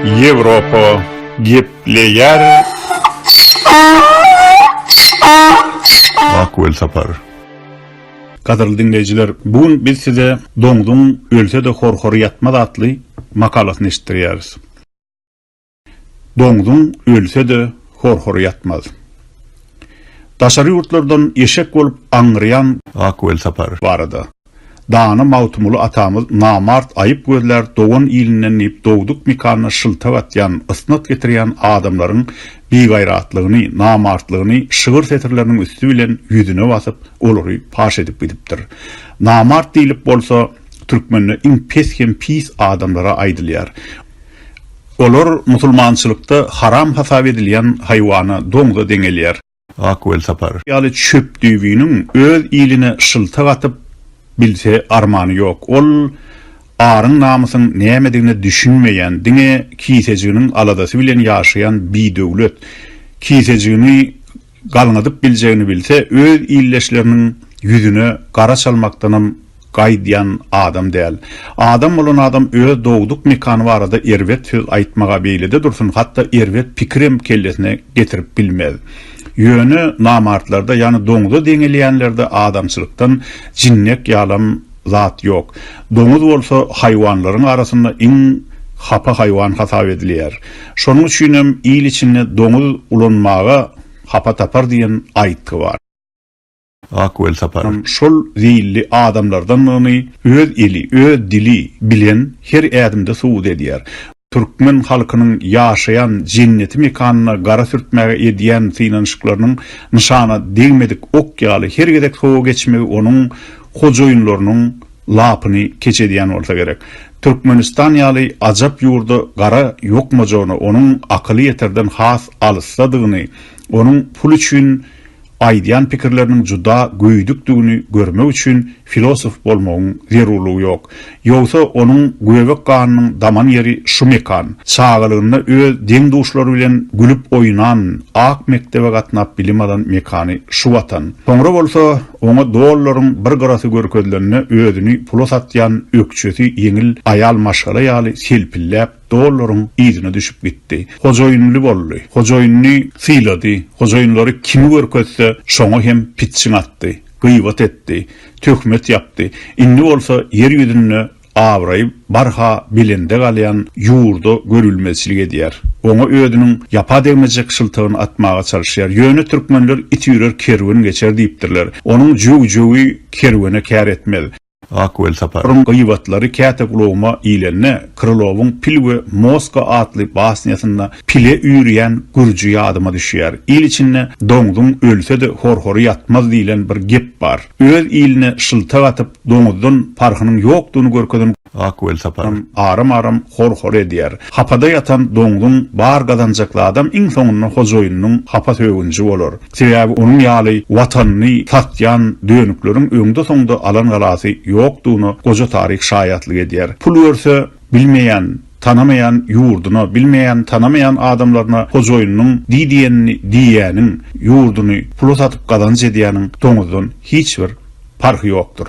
Ýewropa gepleýär. Ak welsapar. Gadyrly diňleýjiler, bu gün biz size Doňzuň ölse-de horhory ýatmaz atly makalasyny eşitdirýäris. Doňzuň ölse-de horhory ýatmaz. Daşary ýurtlardan eşek bolup aňňyrýan. Ak welsapar. Barada. Dana Magtymguly atamyz namart aýyp gözlär dogan ilinden diýip dogduk mekanyna şyltak atýan, ysnat getirýän adamlaryň bigaýratlygyny, namartlygyny şygyr setirleriniň üsti bilen ýüzüne basyp, olary paş edip gidipdir. Namart diýlip bolsa türkmende iň pes hem pis adamlara aýdylýar. Olar musulmançylykda haram hasap edilýän haýwana, doňza deňelýär. Ak welsapar. Ýaly çöp düýbüniň öz iline şyltak atyp bilse armany ýok. Ol aryň-namysyň nämedigine düşünmeýän, diňe kisejiginiň aladasy bilen ýaşaýan bidöwlet. Kisejigini galňadyp biljegini bilse, öz ildeşleriniň ýüzüne gara çalmakdanam gaýdýan adam däl. Adam bolan adam öz dogduk mekany barada erbet söz aýtmaga beýlede dursun hatda erbet pikirem kellesine getirip bilmez. Ýöne namartlarda ýany doňza deňelýänlerde adamçylykdan jinnek ýalam zat ýok. Doňuz bolsa haýwanlaryň arasynda iň hapa haýwan hasap edilýär. Şonuň üçinem il içinde doňuz ulanmaga hapa tapar diýen aýtgy bar. Ak Welsapar şol zeýilli adamlardandygyny öz eli, öz dili bilen her ädimde subut edýär. Türkmen halkynyň ýaşaýan jenneti mekanyna gara sürtmäge edýän synanyşyklarynyň nyşana degmedik ok ýaly her gezek sowa geçmegi onuň hojaýynlarynyň lapyny keç edýän bolsa gerek. Türkmenistan ýaly ajap ýurda gara ýokmajagyny, onuň akyly ýeterden has alysdadygyny Onuň pul üçin aýdýan pikirleriniň juda göýdükdigini görmek üçin filosof bolmagyň zerurlygy ýok. Ýogsa onuň göbek ganynyň daman ýeri şu mekan. Çagalygynda öz deň-duşlary bilen gülüp oýnan, ak mekdebe gatnap bilim alan mekany şu watan. Soňra bolsa, oňa dollaryň bir gyrasy görkezilende özüni pula satýan ökjesi ýeňil aýal maşgala ýaly selpilläp, Dollaryň yzyna düşüp gitdi. Hojaýynly boldy. Hojaýynyny sylady. Hojaýynlary kimi görkezse, şoňa hem pitjiň atdy. Gybat etdi. Töhmet ýapdy. Indi bolsa ýer ýüzünde abraýy barha belende galýan ýurda görülmezçilik edýär. Oňa özüniň ýapa degmejek şyltygyny atmaga çalyşýar. Ýöne türkmenler It ýürer, kerwen geçer diýipdirler. Onuň jöw-jöwi kerwene kär etmez. Ak Welsaparyň gybatlary käte gulagyma ilende, Krylowyň Pil we Moska atly basnýasynda pile üýrýän gürji ýadyma düşýär. Il içinde Doňzuň ölse-de horhory ýatmaz diýlen bir gep bar. Öz iline şyltak atyp, doňuzdan parhynyň ýokdugyny görkezen Ak Welsaparyň aram-aram horhory edýär. Hapada ýatan doňzuň bar gazanjak zadam iň soňunda hojaýynynyň hapa sögünji bolar. Sebäbi onuň ýaly Watanyny satýan dönükleriň öňde-soňda alan galasy ýokdugyna goja taryh şaýatlyk edýär. Pul berse, bilmeýän, tanamaýan ýurduna, bilmeýän, tanamaýan adamlaryna hojaýynynyň diý diýenini diýýäniň, ýurduny pula satyp gazanç edýäniň doňuzdan hiç bir parhy ýokdur.